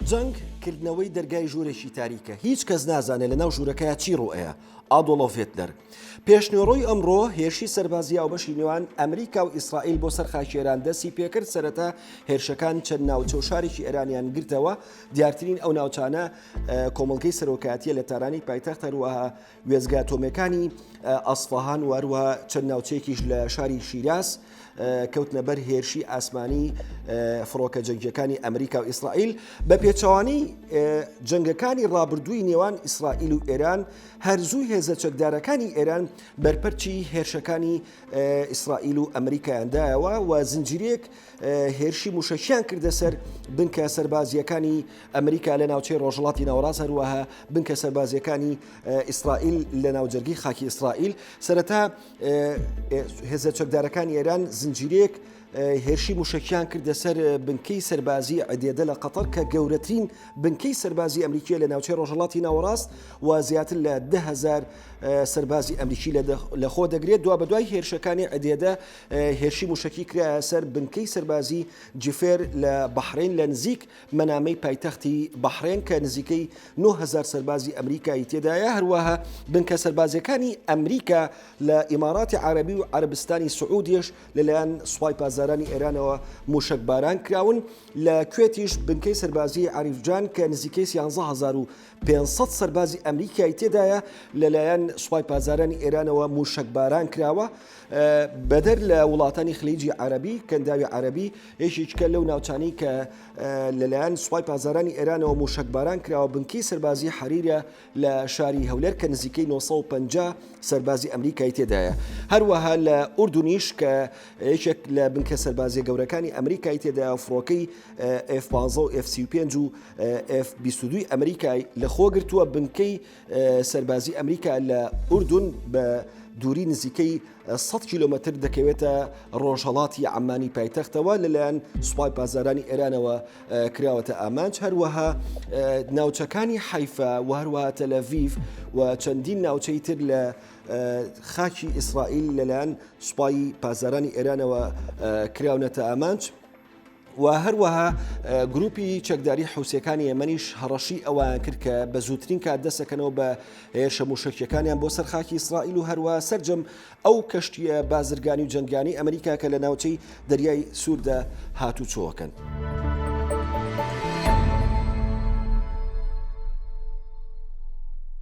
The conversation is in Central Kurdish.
جەنگ، کردنەوەی دەرگای ژوورێکی تاریکە، هیچ کەس نازانێت لەناو ژوورەکەیا چی ڕووئەیا. ئادۆڵۆف هێتلەر. پێشنۆرۆی ئەمڕۆ، هێرشی سەربازی هاوبەشی نێوان ئەمریکا و ئیسرائیل بۆ سەر خاکی ئێران دەستی پێکرد، سەرەتا هێرشەکان چەند ناوچە و شارێکی ئێرانیان گرتەوە، دیارترین ئەو ناوچانە کۆمەڵگەی سەرۆکایەتییە لە تارانی پایتەخت، هەروەها وێستگە ئەتۆمییەکانی ئەسفەهان و هەروەها چەند ناوچەیەکیش لە شاری شیراز کەوتنە بەر هێرشی ئاسمانی فڕۆکە جەنگیەکانی ئەمریکا و ئیسرائیل بە پێچوانی جەنگەکانی ڕابردووی نێوان ئیسرائیل و ئێران هەرزوو هێزە چەکدارەکانی ئێران بەرپەرچی هێرشەکانی ئیسرائیل و ئەمریکایاندایەوە و زنجیرێک هێرشی موشەکیان کردە سەر بنکە سەربازیەکانی ئەمریکا لە ناوچەی ڕۆژڵاتی ناوەڕاست هەروەها بنکە سەربازیەکانی ئیسرائیل لە ناوجەرگی خاکی ئیسرائیل سەرەتا هێزە چەکدارەکانی ئێران زنجیرێک هێرشی موشەکیان کردە سەر بنکەی سەربازی عدێدە لە قەتەر کە گەورەترین بنکەی سەربازی ئەمریکیە لە ناوچەی ڕۆژەڵاتی ناوەڕاست و زیاتر لە دههزار سەربازی ئەمریکی لە خۆ دەگرێت دوا بەدوای هێرشەکانی عدێدە هێرشی مووشەکی کرایە سەر بنکەی سەربازی جیفێر لە بەحرین لە نزیک مەنامەی پایتەختی بەحرێن کە نزیکەی 9هزار سەربازی ئەمریکایی تێدایە هەروەها بنکە سەربازیەکانی ئەمریکا لە ئیماراتی عربی و عربستانی سعودیش لەلایەن سوپای پازدارانی ئێرانەوە مووشەک باران کراون لە کوێتیش بنکەی سەربازی عریفجان کە نزیکەی 11500 سەربازی ئەمریکایی تێدایە لەلایەن سوپای پازدارانی ئێرانەوە مووشەک باران کراوە بەدەر لە وڵاتانی خلیجی عەرەبی، کەنداوی عەرەبی یەکێکە لەو ناوچانەی کە لەلایەن سوپای پاسدارانی ئێرانەوە مووشەکباران کراوە، بنکەی سەربازیی حەریرە لە شاری هەولێر کە نزیکەی نۆ سەد و پەنجا سەربازی ئەمریکای تێدایە. هەروەها لە ئوردنیش کە یەکێک لە بنکە سەربازییە گەورەکانی ئەمریکای تێدایە و فڕۆکەی ئێف پازدە و ئێف سی و پێنج و ئێف بیست و دوو ی ئەمریکای لەخۆگرتووە، بنکەی سەربازی ئەمریکا لە ئوردون بە دووری نزیکەی 100 کیلومتر دەکەوێتە ڕۆژهڵاتی ئەمانی پایتەختەوە لەلایەن سوپای پازارانی ئێرانەوە کراوەتە ئامانج هەروەها ناوچەکانی حیفا و هەروە تەلەڤیف و چەندین ناوچەی تر لە خاکی ئیسرائیل لەلایەن سوپای پازارانی ئێرانەوە کراونەتە ئامانج. و هەروەها گروپی چەکداری حوسەکانی ئێمەنیش هەڕەشی ئەوان کرد کە بە زووترین کات دەسەکەنەوە بە هێرشە موشکیەکانیان بۆ سەرخاکی ئیسرائیل و هەروە سرجەم ئەو کەشتیە بازرگانی و جنگانی ئەمریکا کە لە ناوچەی دەریای سووردا هاتوچۆەکەن.